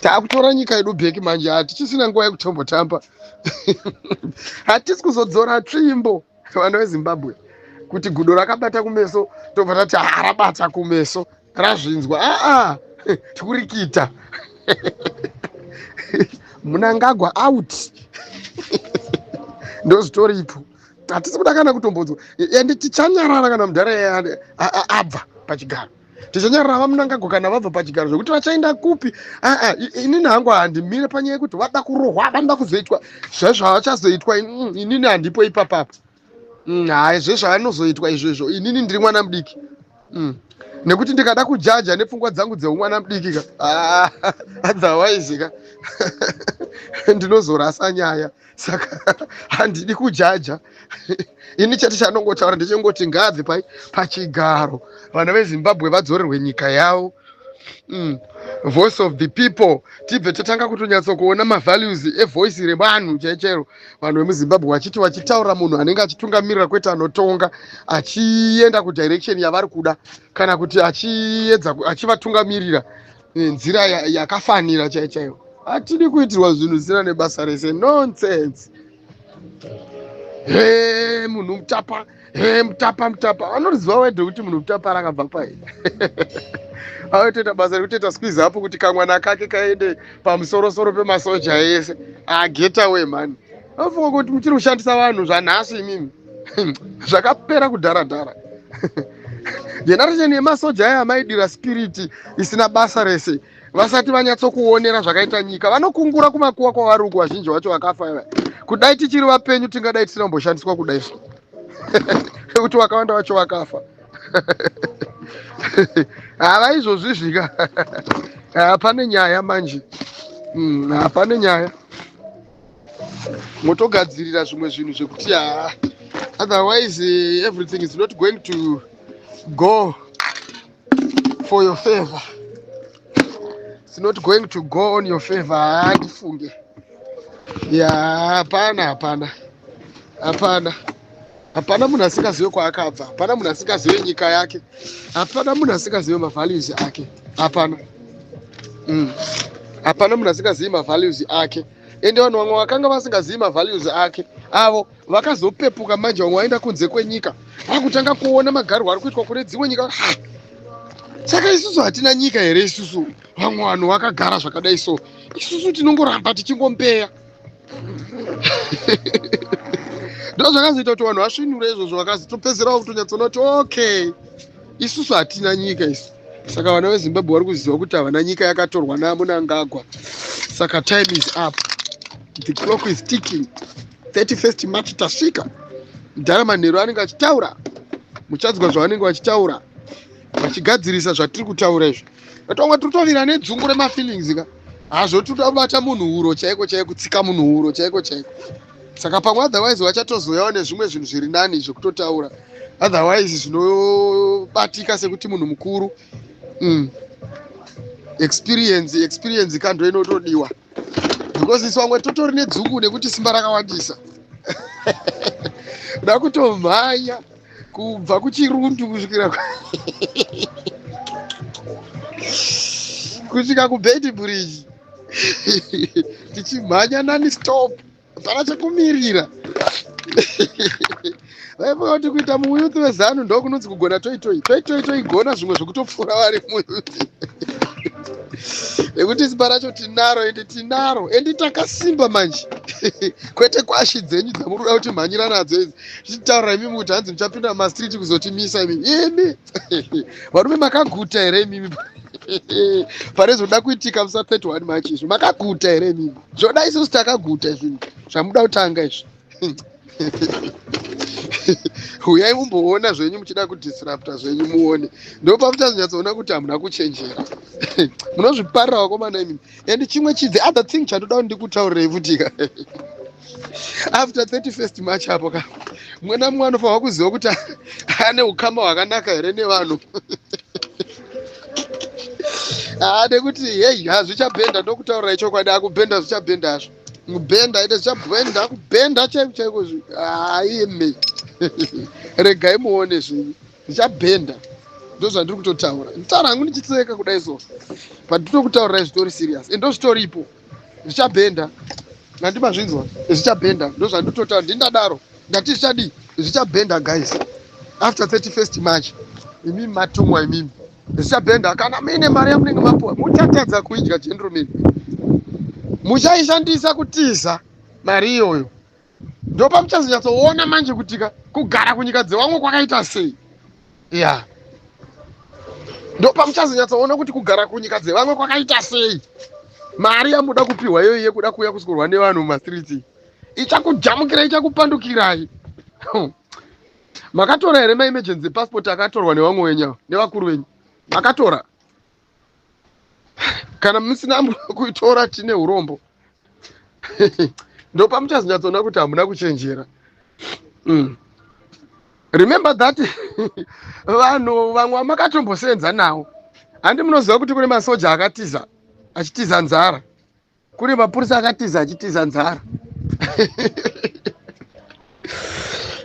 taakutora nyika yedu bheki manje hatichisina nguva yekutombotamba hatisi kuzodzora tsvimbo vana vezimbabwe kuti gudo rakabata kumeso tobva tati harabata kumeso razvinzwa aa tikurikita munangagwa out ndozvitoripo hatisi kuda kana kutombodzwa ende tichanyarara kana mudhara abva pachigaro tichanyarara vamunangagwa kana vabva pachigaro zvekuti vachaenda kupi aa ah, ah, inini hangu handimire panyaya yekuti vada kurohwa vanoda kuzoitwa zvaizvo havachazoitwa mm, inini handipo ipapapo mm, haa zvezvo havanozoitwa izvezvo inini ndiri mwana mudiki mm. nekuti ndikada kujaja nepfungwa dzangu dzeumwana mudiki ka ah, otherwise ka ndinozorasa nyaya saka handidi kujaja ini chete chanongotaura ndechingoti ngaabve pai pachigaro vana vezimbabwe vadzorerwe nyika yavo mm. voice of the people tibve tatanga kutonyatso kuona mavalues evoice revanhu chaichero vanhu vemuzimbabwe vachiti vachitaura munhu anenge achitungamirira kwete anotonga achienda kudirection yavari kuda kana kuti achiedza achivatungamirira nenzira yakafanira ya chaiyo chaiyo hatidi kuitirwa zvinhu zvisina nebasa rese nonsense he munhu mutapa he mutapa mutapa anoziva wede kuti munhu mutapa rakabva pai aotoita basa rekutoita squiz apo kuti kamwana kake kaende pamusorosoro pemasoja ese agetawe ah, mhani anofunga kuti muchiri kushandisa vanhu zvanhasi imimi zvakapera kudhara dhara generation yemasoja aya amaidira spiriti isina basa rese vasati vanyatsokuonera zvakaita nyika vanokungura kumakuwa kwavari uku vazhinji vacho vakafa iva kudai tichiri vapenyu tingadai tisina kumboshandiswa kudai so nekuti vakawanda vacho vakafa hava izvozvi zvika hapane nyaya manje hapane hmm, nyaya motogadzirira zvimwe zvinhu zvekuti haa otherwise eh, everything is not going to go for your favor it's not going to go on your favor haa tifunge ya hapana hapana hapana hapana munhu asingazive kwaakabva hapana munhu asingazive nyika yake hapana munhu asingazive mavalues ake hapana mm. hapana munhu asingazivi mavalues ake ende vanhu vamwe vakanga vasingazivi mavalues ake avo vakazopepuka manje vamwe vaenda kunze kwenyika vakutanga kuona magarwo ari kuitwa kune dzimwe nyika saka isusu hatina nyika here isusu vamwe vanhu vakagara zvakadai so isusu tinongoramba tichingompeya ndo zvakazoita kuti vanhu vasvinure izvozvo vakazotopedzerawo kutonyatsoona kuti okay isusu hatina nyika isu saka vana vezimbabwe vari kuziva kuti havana nyika yakatorwa namunangagwa saka time is up the clock is ticking 31st march tasvika mudhara manheru anenge achitaura muchadzwa zvavanenge vachitaura vachigadzirisa zvatiri kutaura izvi vatongwa tiri tovira nedzungu remafeelings ka hazvo tiri kubata munhu huro chaiko chaiko kutsika munhu huro chaiko chaiko saka pamwe otherwise vachatozoyawo nezvimwe zvinhu zviri nani zvekutotaura otherwise zvinobatika sekuti munhu mukuru mm. experience experience kando inotodiwa because isu vamwe totori nedzungu nekuti simba rakawandisa kuda kutomhanya kubva kuchirundu kusvikira kusvika kubedbridge tichimhanya nani stop hapana chekumirira vaiva kuti kuita muyuthi wezanu ndo kunonzi kugona toitoi toitoi toigona zvimwe zvekutopfuura vari muyuthi nekuti simba racho tinaro ende tinaro endi takasimba manje kwete kwashi dzenyu dzamuruda kuti mhanyira nadzo idzi zvichitaura imimi kuti hanzi muchapinda mumastreet kuzotimisa imimi imi varume makaguta here imimi pane zvoda kuitika musa 31 march izvi makaguta here imimi zvoda isusu takaguta izvi zvamuda kutanga izvi huyai mumboona zvenyu muchida kudisrupta zvenyu muone ndopamuchazonyatsoona kuti hamuna kuchenjera munozviparira wakomana imimi and chimwe chi the other thing chandoda kuti ndikutaurireyi futika after 31st march apo ka mwana mumwe anofanirwa kuziva kuti ane ukama hwakanaka here nevanhu haa nekuti heyi hazvichabhenda ndokutaurira ichokwadi akubhenda zvichabhenda hazvo kubhenda ite zvichabhenda akubhenda chaiko chaiko zvi haime regai muone zvinhu ndichabhenda ndozvandiri kutotaura nditaura hangu ndichiseka kudai so but ndinokutaurirai zvitori serious and ndozvitoripo zvichabhenda ngandi mazvinzwa zvichabhenda ndozvanditotaura ndindadaro ndati zvichadii zvichabhenda guys after 31st march imimi matumwa imimi zvichabhenda kana muine mari yamunenge mapuwa muchatadza kuidya general mimi muchaishandisa kutiza mari iyoyo ndopamuchazonyatsoona manje kuti ka kugara kunyika dzevamwe kwakaita sei ya ndopamuchazonyatsoona kuti kugara kunyika dzevamwe kwakaita sei mari yamuda kupiwa iyoyi yekuda kuuya kusikurwa nevanhu mumastreets ichakujamukirai ichakupandukirai makatora here maemergency passport akatorwa nevamwe wenyu nevakuru venyu makatora kana musina kuitora tine urombo ndopamuchazonyatsoona kuti hamuna kuchenjera mm. remember that vanhu vamwe vamakatomboseenza nawo handi munoziva kuti kune masoja akatiza achitiza nzara kune mapurisa akatiza achitiza nzara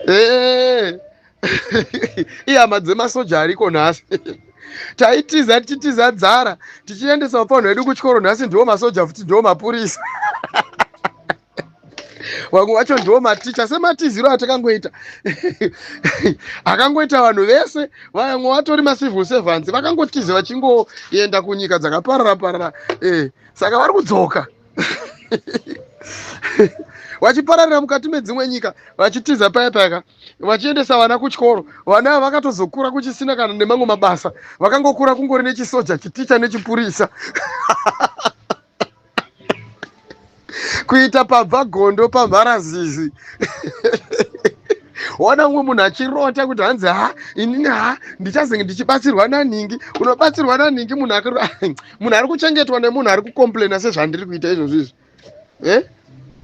eh. ihama dzemasoja ariko nhasi taitiza tichitiza dzara tichiendesa ufanhu hwedu kuchikoro nhasi ndiwo masoja futi ndiwo mapurisa vamwe vacho ndiwo maticha sematiziro atakangoita akangoita vanhu vese vamwe vatori macivil servants vakangotiza vachingoenda kunyika dzakaparara parara eh. saka vari kudzoka vachipararira mukati medzimwe nyika vachitiza paya payaka vachiendesa vana kuchikoro vana ava vakatozokura kuchisina kana nemamwe mabasa vakangokura kungori nechisoja chiticha nechipurisa kuita pabva gondo pamharazizi ona umwe munhu achirota kuti hanzi ha inini ha ndichazenge ndichibatsirwa nanhingi unobatsirwa nanhingi munhu akaro munhu ari kuchengetwa nemunhu ari kucomplaina sezvandiri kuita izvozvo izvi eh?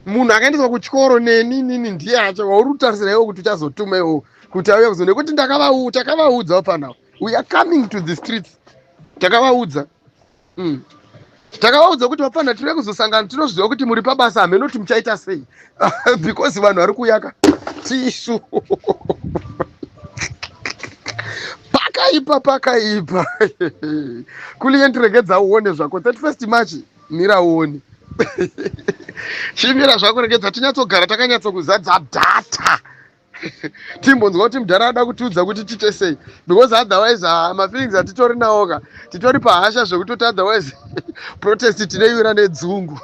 munhu akaendeswa kuchikoro neni nini ndiye acho wauri kutarisira iwo kuti uchazotuma iwo kuti auya kuzo nekuti takavaudzawo panawo we are coming to the streets takavaudza mm. takavaudza kuti vapana tiri kuzosangana tinozviziva kuti muri pabasa hameno kuti muchaita sei because vanhu vari kuyaka tisu pakaipa pakaipa kuliye ndiregedza uone zvako 31 march mira uone chimira zvako regedza tinyatsogara takanyatsokuzadza data timbonzwa kuti mudhara ada kutiudza kuti tiite sei because otherwise ha ah, mafeelings atitori nawo ka titori pahasha zvekutoti otherwise protest tinoiwira nedzungu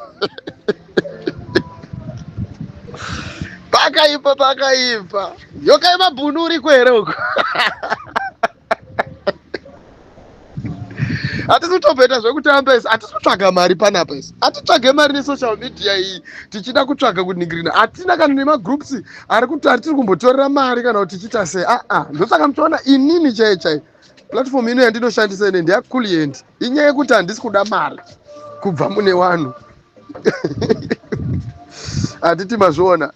pakaipa pakaipa yokai mabhunu uriko here uko hatisi kutomboita zvekutamba isi hatisi kutsvaga mari panapa isi hatitsvage mari nesocial media iyi tichida kutsvaga kuningirina hatina kana nemagroups ari kuti ari tiri kumbotorera mari kana kuti tichiita sei aa ah, ah. ndosaka muchiona inini chaiye chaiye platform ino yandinoshandisa ine ndiyakulient inyaya yekuti handisi kuda mari kubva mune vanhu hatiti mazviona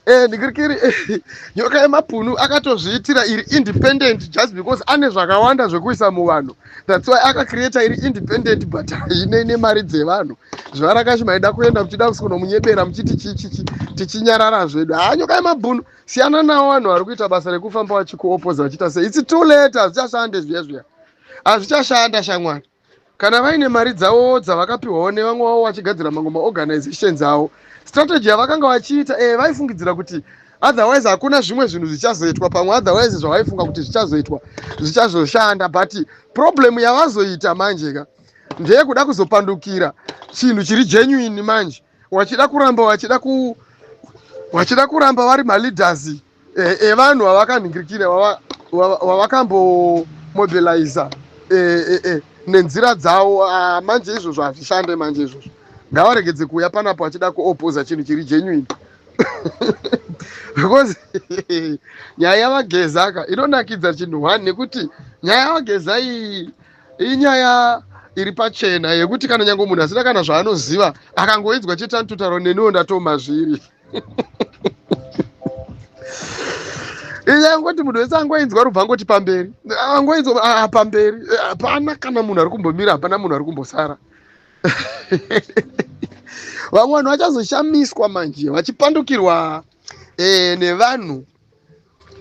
Eh, ndikirikiri eh, nyoka yemapunu akatozviitira iri independent just because ane zvakawanda zvekuisa muvanhu that's why akacreata iri independent but haine nemari dzevanhu zvarakashi maida kuenda muchida kusonomunyebera muchiti chichichi tichinyarara zvedu haa nyoka yemabhunu siyana nawo vanhu vari kuita basa rekufamba vachikuopoza vachiita sei its too late hazvichashande zviya zviya hazvichashanda shamwari kana vaine mari dzavowo dzavakapiwawo nevamwe vavo vachigadzira mamwe maorganizations avo strategy yavakanga vachiita e vaifungidzira kuti otherwise hakuna zvimwe zvinhu zvichazoitwa pamwe otherwise zvavaifunga kuti zvichazoitwa zvichazoshanda but problem yavazoita manje ka ndeyekuda kuzopandukira chinhu chiri genuine manje wachida kuramba wachida ku wachida kuramba vari maleaders eh, evanhu vavakanhingirikira wavakambomobiliza eh, eh, eh, nenzira dzawo ah, manje izvozvo hazvishande manje izvozvo ngavaregedze kuuya panapo achida kuopoza chinhu chiri genuine because nyaya yavagezaka inonakidza chinhu one nekuti nyaya yavageza iyi inyaya iri pachena yekuti kana nyange munhu asina kana zvaanoziva akangoidzwa chete anototaro neniwo ndatoma zviri inyaya yekuti munhu wese angoinzwa rubva angoti pamberi angoinzwa ah, pamberi hapana kana munhu ari kumbomira hapana munhu ari kumbosara vamwe vanhu vachazoshamiswa manje vachipandukirwa eh, nevanhu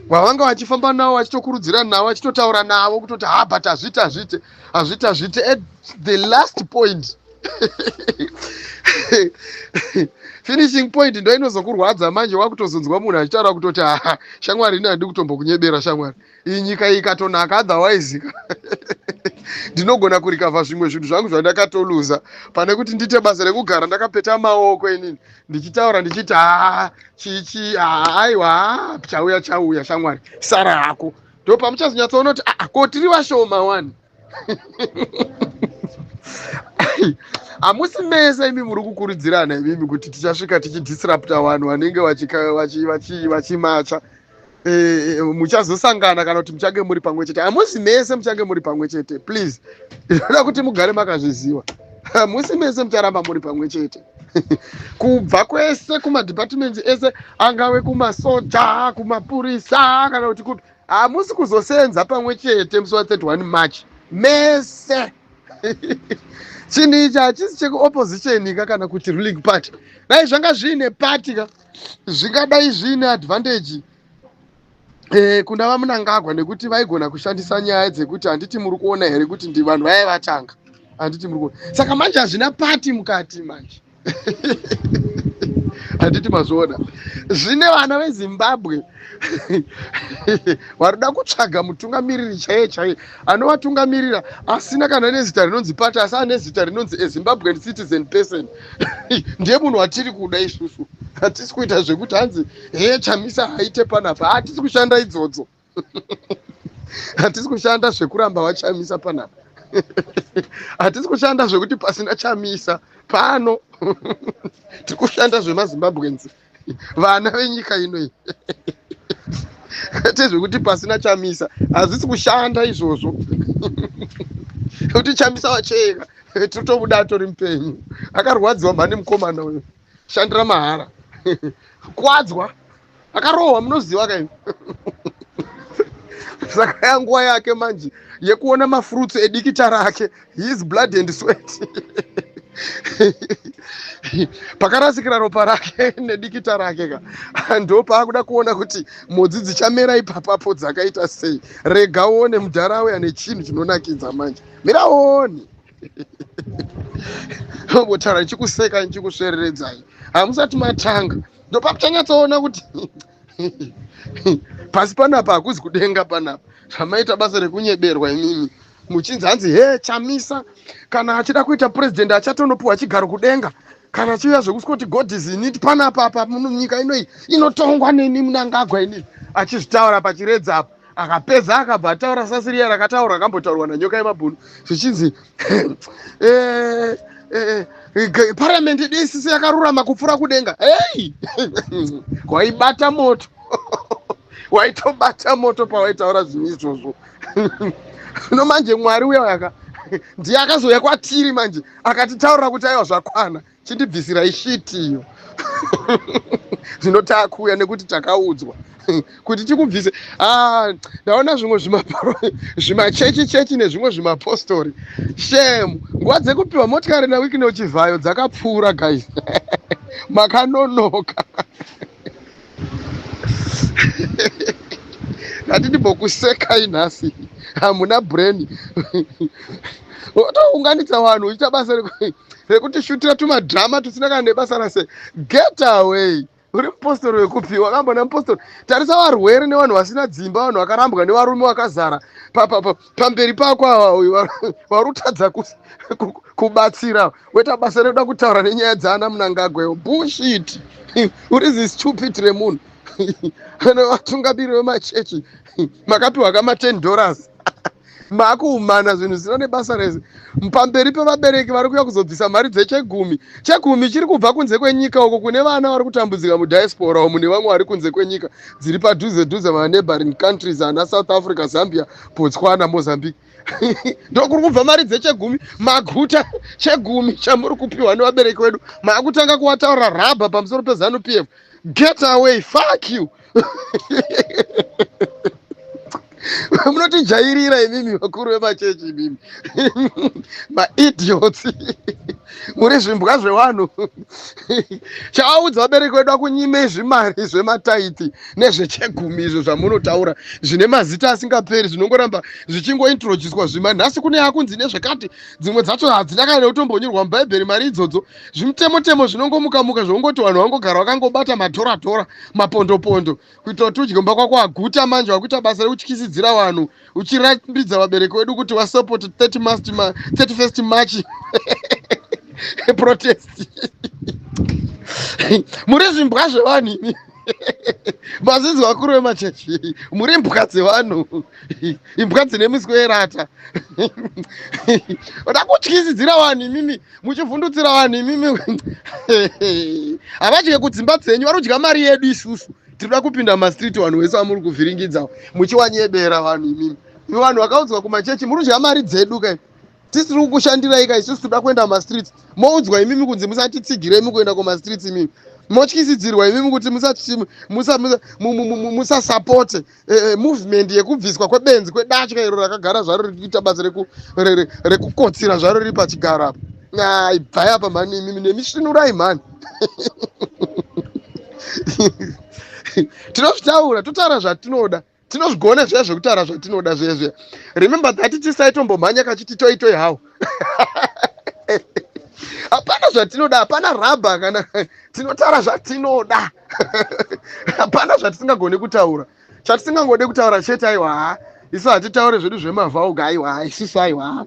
wavanga vachifamba navo vachitokurudzira navo vachitotaura navo kutoti ha but hazviti hazviti hazviti hazviti at the last point finishing point ndo inozokurwadza manje wakutozonzwa munhu achitaura kutoti haa shamwari ini handidi kutombokunyebera shamwari iyi nyika iyi ikatonaka otherwise ndinogona kurikavha zvimwe zvinhu zvangu zvandakatoluza pane kuti ndiite basa rekugara ndakapeta maoko inini ndichitaura ndichiti haa chichi haa aiwa haa chauya chauya shamwari sara hako ndo pamuchazonyatsoona kuti aa ah, ah, ko tiri vashoma wani hamusi mese imi muri kukurudzirana imimi kuti tichasvika tichidisrupta vanhu vanenge vachimacha eh, eh, muchazosangana kana kuti muchange muri pamwe chete hamusi mese muchange muri pamwe chete please inoda kuti mugare makazviziva hamusi mese mucharamba muri pamwe chete kubva kwese kumadhipatimendi ese angave kumasoja kumapurisa kana kuti kupi hamusi kuzosenza pamwe chete musi wa 31 march mese chinhu ichi hachisi chekuopposition ka kana kuti ruling party dai zvanga zviine party ka zvingadai zviine advantage Eh, kuna vamunangagwa nekuti vaigona kushandisa nyaya dzekuti handiti muri kuona here kuti ndivanhu vaye vatanga handiti muri kuona saka manje hazvina pati mukati manje handiti mazviona zvine vana vezimbabwe varikuda kutsvaga mutungamiriri chaiye chaiye anovatungamirira asina kana nezita rinonzi pati asi ane zita rinonzi ezimbabwean citizen person ndiye munhu watiri kuda isusu hatisi kuita zvekuti hanzi hee chamisa haite panapa hatisi kushanda idzodzo ah, hatisi kushanda zvekuramba vachamisa panapa hatisi kushanda zvekuti pasina chamisa pano tiri kushanda zvemazimbabwenzi vana venyika inoyi kwete zvekuti pasina chamisa hazvisi kushanda izvozvo kuti chamisa wacheka tiri tobuda atori mupenyu akarwadziwa mhani mukomana uyo shandira mahara kwadzwa akarohwa munoziva kaini saka yanguva yake manje yekuona mafruits edikita rake his blood and sweat pakarasikira ropa rake nedikita rake ka ndo paakuda kuona kuti mhodzi dzichamera ipapapo dzakaita sei rega uone mudhara auya nechinhu chinonakidza manje miraoni votaura ndichikuseka ndichikusvereredzai hamusati matanga ndopakutanyatsoona kuti pasi panapa hakuzi kudenga panapa zvamaita basa rekunyeberwa imimi muchinzi hanzi he chamisa kana achida kuita purezidendi achatonopiwa chigaro kudenga kana chiuya zvekuskoti god is init panapa apa nyika inoi inotongwa neni munangagwa inii achizvitaura pachiredza apa akapedza akabva ataura sasiriya rakataura akambotaurwa nanyoka yemabhunu zvichinzi eh, eh, eh, paramende dss yakarurama kupfuura kudenga hei waibata moto waitobata moto pawaitaura zvinhu izvozvo no manje mwari uya yaka ndiye akazouya kwatiri manje akatitaurira kuti aiwa zvakwana chindibvisirai shit iyo zvino takuuya nekuti takaudzwa kuti tikubvise ah, ndaona zvimwe zvimachechi chechi nezvimwe zvimapostori shem nguva dzekupiwa motikari nawiki neuchivhayo dzakapfuura guys makanonoka hati ndimbokusekai nhasi hamuna brain wotounganidza vanhu uchiita basa rekutishutira tumadhama tusina kana nebasa rase get away uri mupostori wekupi wakambona mupostori tarisa varwere nevanhu vasina dzimba vanhu vakarambwa nevarume vakazara papapa pamberi pako ava uyu vari kutadza kubatsira weta basa rekuda kutaura nenyaya dzaana munangagwa iyo bullshit uri zi stupid remunhu ane vatungamiri vemachechi makapiwa kama 10 dollars makuumana zvinhu zvisina nebasa rese pamberi pevabereki vari kuya kuzobvisa mari dzechegumi chegumi chiri kubva kunze kwenyika uko kune vana vari kutambudzika mudiaspora umu nevamwe vari kunze kwenyika dziri padhuze dhuze maneighboring countries ana south africa zambia Botswana, Mozambique ndokuri kubva mari dzechegumi maguta chegumi chamuri kupiwa nevabereki wedu maakutanga kuwataura rabha pamusoro pezanu p f get away fuck you munotijairira imimi vakuru vemachechi imimi maidiots muri zvimbwa zvevanhu chaaudza vabereki vedu akunyimei zvimari zvemataithi nezvechegumi izvo zvamunotaura zvine mazita asingaperi zvinongoramba zvichingointroducwa zvima nhasi kune akunzi nezvekati dzimwe dzacho hadzina kana neutombonyorwa mubhaibheri mari idzodzo zvimutemotemo zvinongomukamuka zvokungoti vanhu vangogara vakangobata matoratora mapondopondo kuitira kuti udye mba kwako aguta manje vakuita basa rekutyisidzira vanhu wa uchirambidza vabereki wedu kuti wasupport 30 mast ma, 31st march protest muri zvimbwa zvevanhu imi mazinzi vakuru vemachechi muri imbwa dzevanhu imbwa dzine miswe yerata oda kutyisidzira vanhu imimi muchivhundutsira vanhu imimi havadye kudzimba dzenyu vanodya mari yedu isusu tinoda kupinda mumastreet vanhu wese vamuri kuvhiringidza muchiwanyebera vanhu imimi ivo vanhu vakaudzwa kumachechi muri kudya mari dzedu kai tisi tiri kukushandirai kai isusu tinoda kuenda mumastreets moudzwa imimi kunzi musatitsigirei mukuenda kumastreets imimi motyisidzirwa imimi kuti musasapote eh, eh, movement yekubviswa kwebenzi kwedatya iro rakagara zvaro riri kuita basa rekukotsira zvaro riri pachigaro apo Nah, ibvai apa mhani imimi nemisvinurai mhani tinozvitaura totaura zvatinoda tinozvigona zviya zvekutaura zvatinoda zviya zviya remember that tisaitombommhanya kachiti toi toi hawo hapana zvatinoda hapana rabha kana tinotaura zvatinoda hapana zvatisingagoni kutaura chatisingangode kutaura chete aiwa isu hatitaure zvedu zvemavauga aiwa isusu aiwa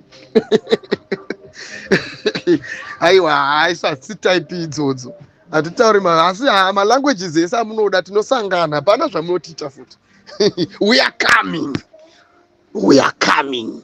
aiwa isu hatisi type idzodzo hatitauri asi malanguages ese amunoda tinosangana hapana zvamunotiita futi we are coming we are coming